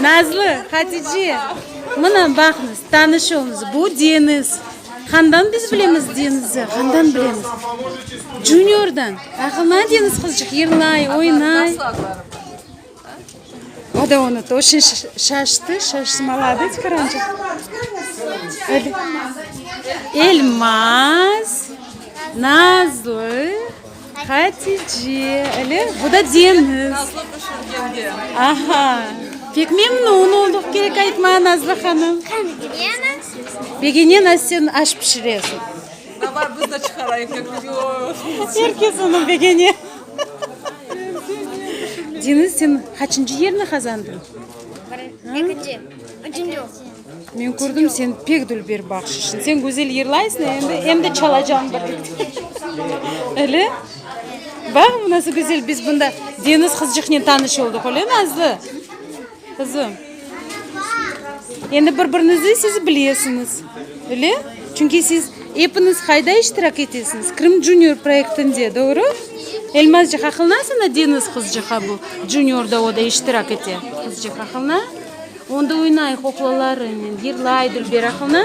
Nazlı, Hatice, mına, baqıñız, tanışıñız, bu Deniz. Handan biz bilemiz Denizni? Handan bilemiz? Juniordan. Aqıllı Deniz qızcıq, yırlay, oynay. O da unutı, o şey şaştı, şaştı, malades qırancıq. Elmaz, Nazlı. Hatice, ele? Bu da deñiz. Nazlı pişirgenge. Aha. Pek memnun olduq, kerek aytma, Nazlı hanım. Yene? Begene nasıl sen aş pişiresiñ? Davay, biz de çıqarayıq köküge o aşnı. Er kes onıñ begene. Deñiz, sen qaçıncı yerni qazandıñ? Birinci. Ekinci. Üçünci. Men kördim sen pek dülber baqşışın. Sen güzel yırlaysın endi, em de çalacam birlikte. Öyle? Baq, nasıl güzel biz bunda Deniz qızcıqnen tanış oldıq, öyle Nazlı? Qızım. Endi bir-birinizi siz bilesiñiz, öyle? Çünki siz epiniz qayda iştirak etesiñiz? Krım Junior proyektinde, doğru? Elmazcıq, aqılnasıña Deniz qızcıqqa bu Juniorda o da iştirak ete? Qızcıq, aqılna? Onda oynay qoqlalarınen, yırlay dülber aqılına.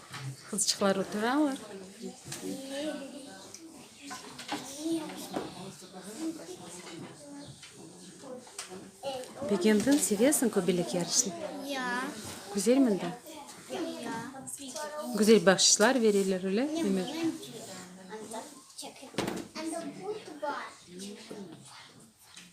Qızçıqlar oturalar. Begendiñ, sevesiñ köbelek yarışını? Ya. Güzel mında? Ya. Güzel bahşişlar bereler, öyle mi?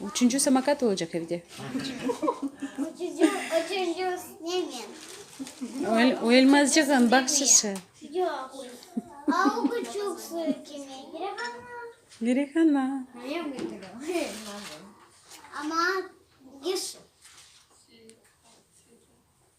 Üçünci samokat olacaq evde. Oyelmazcığın bahşışı. Girehana.